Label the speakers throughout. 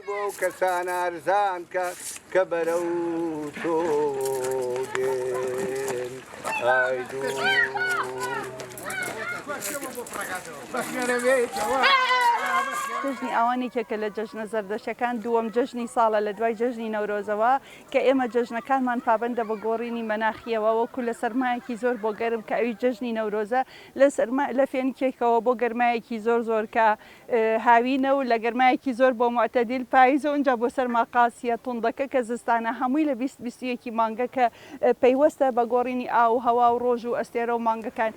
Speaker 1: بۆ ئەو کەسان ئارزان کە کە بەرەو تۆ دێن
Speaker 2: ئای دوو. جەژنی ئاوان یەکێکە لە جەژنە زەردەشەکان دووەم جەژنی ساڵە لە دوای جەژنی نەورۆزەوە کە ئێمە جەژنەکانمان پابندە بە گۆڕینی مەناخیەوە وەکو لە سەرمایەکی زۆر بۆ گەرم کە ئەوی جەژنی نەورۆزە لە سەرما لە فێنکێکەوە بۆ گەرمایەکی زۆر زۆر کە هاوینە و لە گەرمایەکی زۆر بۆ موعتەدیل پاییزە و ئینجا بۆ سەرما قاسیە توندەکە کە زستانە هەمووی لە بیست بیست و یەکی مانگە کە پەیوەستە بە گۆڕینی ئاو و هەوا و ڕۆژ و ئەستێرە و مانگەکان.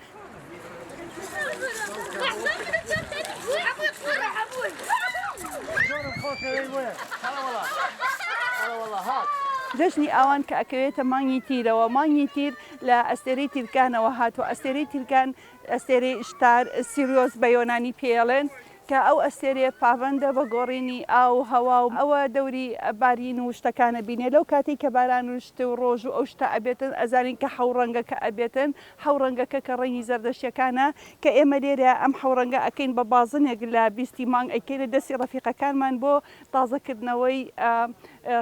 Speaker 2: جەژنی ئاوان کە ئەکەوێتە مانگی تیرەوە مانگی تیر لە ئەستێرەی تیرکانەوە هاتووە ئەستێرەی تیرکان ئەستێرەی ئیشتار، سیریۆس بە یۆنانی پێیەڵێن، کە ئەو ئەستێرەیە پابەندە بە گۆڕینی ئاو و هەوا و ئەوە دەوری بارین و شتەکان ئەبینێ لەو کاتەی کە باران و شت و ڕۆژ و ئەو شتە ئەبێتن ئەزانین کە حەو ڕەنگەکە ئەبێتن حەو ڕەنگەکە کە ڕەنگی زەردەشتیەکانە کە ئێمە لێرە ئەم حەو ڕەنگە ئەکەین بە بازنێک لە بیستی مانگ ئەیکەینە دەستی ڕەفیقەکانمان بۆ تازەکردنەوەی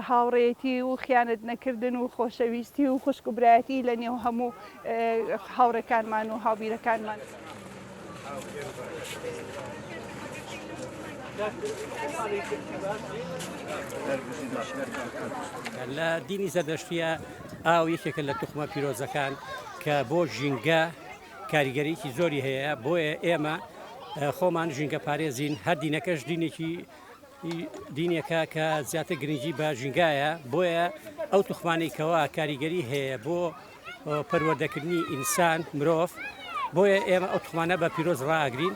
Speaker 2: هاوڕێیەتی و خیانەت نەکردن و خۆشەویستی و خوشک و برایەتی لە نێو هەموو هاوڕێکانمان و هاوبیرەکانمان.
Speaker 3: لە دینی زەردەشتیە ئاو یەکێکە لە توخمە پیرۆزەکان کە بۆ ژینگە کاریگەریی زۆری هەیە بۆیە ئێمە خۆمان ژینگە پارێزین هەر دینەکەش دینێکی دینێکە کە زیاتر گرنگی بە ژینگایە بۆیە ئەو توخمانەی کەوا کاریگەری هەیە بۆ پەروەردەکردنی ئینسان مرۆڤ بۆیە ئێمە ئەو توخمانە بە پیرۆز ڕاگرین